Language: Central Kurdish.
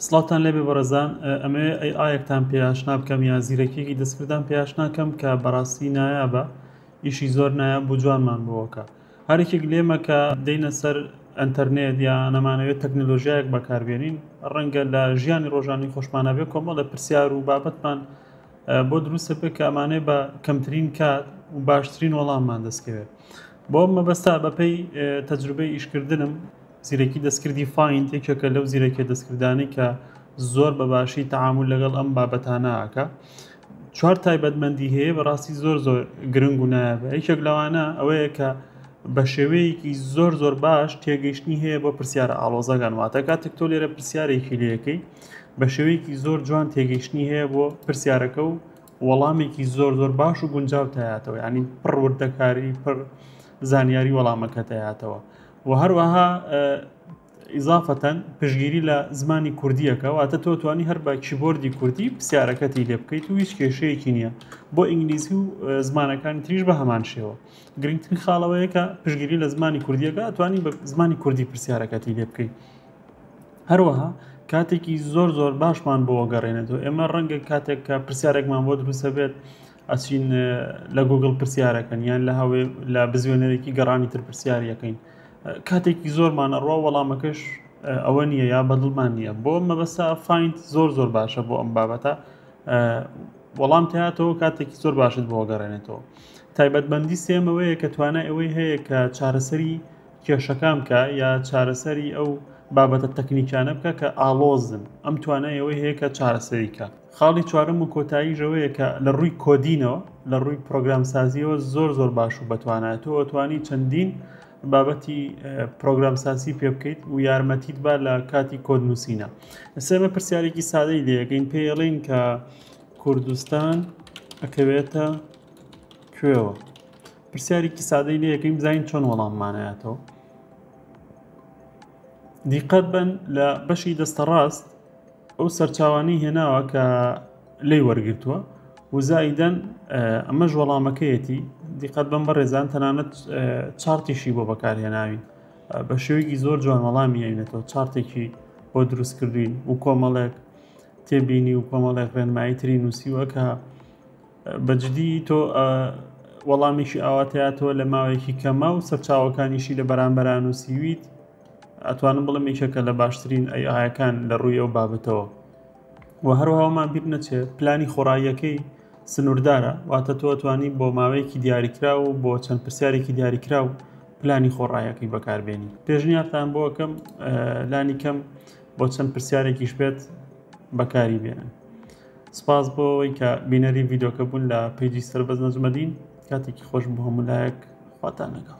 سڵاوتان لێبێ بەڕێزان ئەمەوێ ئەی ئایەکتان پێ ئاشنا بکەم یا زیرەکیەکی دەستکردان پێ ئاشناکەم کە بەڕاستی نایابە ئیشی زۆر نایاب بوو جوانمان بووەکە هەرێکێک لێمە کە دەینە سەر ئەتەرنێت یا نەمانەوێت تەکنەلۆژیایەک بەکاربێنین ڕەنگە لە ژیانی ڕۆژانی خۆشمانەبێ کۆمەڵ لە پرسیار و بابەتمان بۆ دروستە پێ کە ئەمانێ بە کەمترین کات و باشترین وەڵاممان دەستکەوێت بۆ مەبەستا بەپێی تەجروبەی ئیشکردنم زیرەکی دەستکردی فایند یەکێکە لەو زیرەکیە دەستکردانەی کە زۆر بەباشی تەعامل لەگەڵ ئەم بابەتانەکە چوار تایبەتمەندی هەیە بەڕاستی زۆر زۆر گرنگ و نایابە یەکێک لەوانە ئەوەیە کە بە شێوەیەکی زۆر زۆر باش تێگەیشتنی هەیە بۆ پرسیارە ئاڵۆزەگان واتە کاتێک تۆ لێرە پرسیارێکی لەکەی بە شێوەیەکی زۆر جوان تێگەیشتنی هەیە بۆ پرسیارەکە و وەڵامێکی زۆر زۆر باش و گونجاو تایاتەوە ینی پڕوردەکاری پڕ زانیاری وەڵامەکە تایاتەوە و هەروەها ئیزافەتەن پشگیری لە زمانی کوردیەکە واتە تۆ توانی هەر بە کیبۆردی کوردی پرسیارەکەتی لێ بکەیت و هیچ کێشەیەکی نییە بۆ ئینگلیزی و زمانەکانی تریش بە هەمان شێوە گرنگترین خاڵەوەیە کە پشگیری لە زمانی کوردیەکە توانی بە زمانی کوردی پرسیارەکەتی لێ بکەیت هەروەها کاتێکی زۆر زۆر باشمان بۆ گەڕێنێتەوە ئێمە ڕەنگە کاتێک کە پرسیارێکمان بۆ دروستە بێت ئەچین لە گوگڵ پرسیارەکەن یان لە هەوێ لە بزوێنەرێکی گەڕانی تر پرسیارەکەین کاتێکی زۆرمان ئەڕوا وەڵامەکەش ئەوە نییە یا بەدڵمان نییە بۆ مەبەستا فینت زۆر زۆر باشە بۆ ئەم بابەتە وەڵام تاتەوە کاتێکی زۆر باشت بۆ گەڕێنێتەوە تایبەتبندی سێمەوەیە کە توانای ئەوەی هەیە کە چارەسەری کێشەکان بکە یا چارەسەری ئەو بابەتە تەکنیکانە بکە کە ئاڵۆزن ئەم توانایەوەی هەیە کە چارەسەریکە خاڵی چوارەم و کۆتاییش ئەوەیە کە لە ڕووی کۆدینەوە لە ڕووی پرۆگرامسازیەوە زۆر زۆر باش و بەتوانایە تۆ ئەتوانی چەندین بابەتی پرۆگرامسازی پێ بکەیت و یارمەتیت با لە کاتی کۆد نووسینە سێمە پرسیارێکی سادەی لەکەین پێڵین کە کوردستان ئەکەوێتە کوێوە پرسیارێکی سادەی لەکەین بزانین چۆن وەڵاممانایەتەوە دیقەت بەن لە بەشی دەستە ڕاست ئەو سەرچاوانی هێناوە کە لی وەرگتووە وزایدەن ئەمەش وەڵامەکەیەتی دیقەت بەم بەڕێزان تەنانەت چارتیشی بۆ بەکارهێناوین بە شێوەیەکی زۆر جوان وەڵامی یاینەتەوە چارتێکی بۆ دروست کردوین و کۆمەڵێک تێبینی و کۆمەڵێک ڕێنمایی تری نووسیوە کە بەجدی تۆ وەڵامێکی ئاوات هاتەوە لە ماوەیەکی کەما و سەرچاوەکانیشی لە بەرامبەرا نووسیویت ئەتوانم بڵم یەکێکە لە باشترین ئەیەکان لە ڕووی ئەو بابەتەوە و هەروهاومان بیر نەچێت پلانی خۆڕاییەکەی سنووردارە واتە تۆ توانی بۆ ماوەیەکی دیاریکرا و بۆ چەند پرسیارێکی دیاریکرا و پلانی خۆڕایەکەی بەکاربێنی پێشنیارتان بۆکەم لانی کەم بۆ چەند پرسیارێکیش بێت بەکاری بێنن سپاس بۆ ئەوەی کە بینەری ڤیدۆکە بوون لە پیجی سەربەز نەجمەدین کاتێکی خۆش بۆ هەمولایەک خواتان لەگەڵ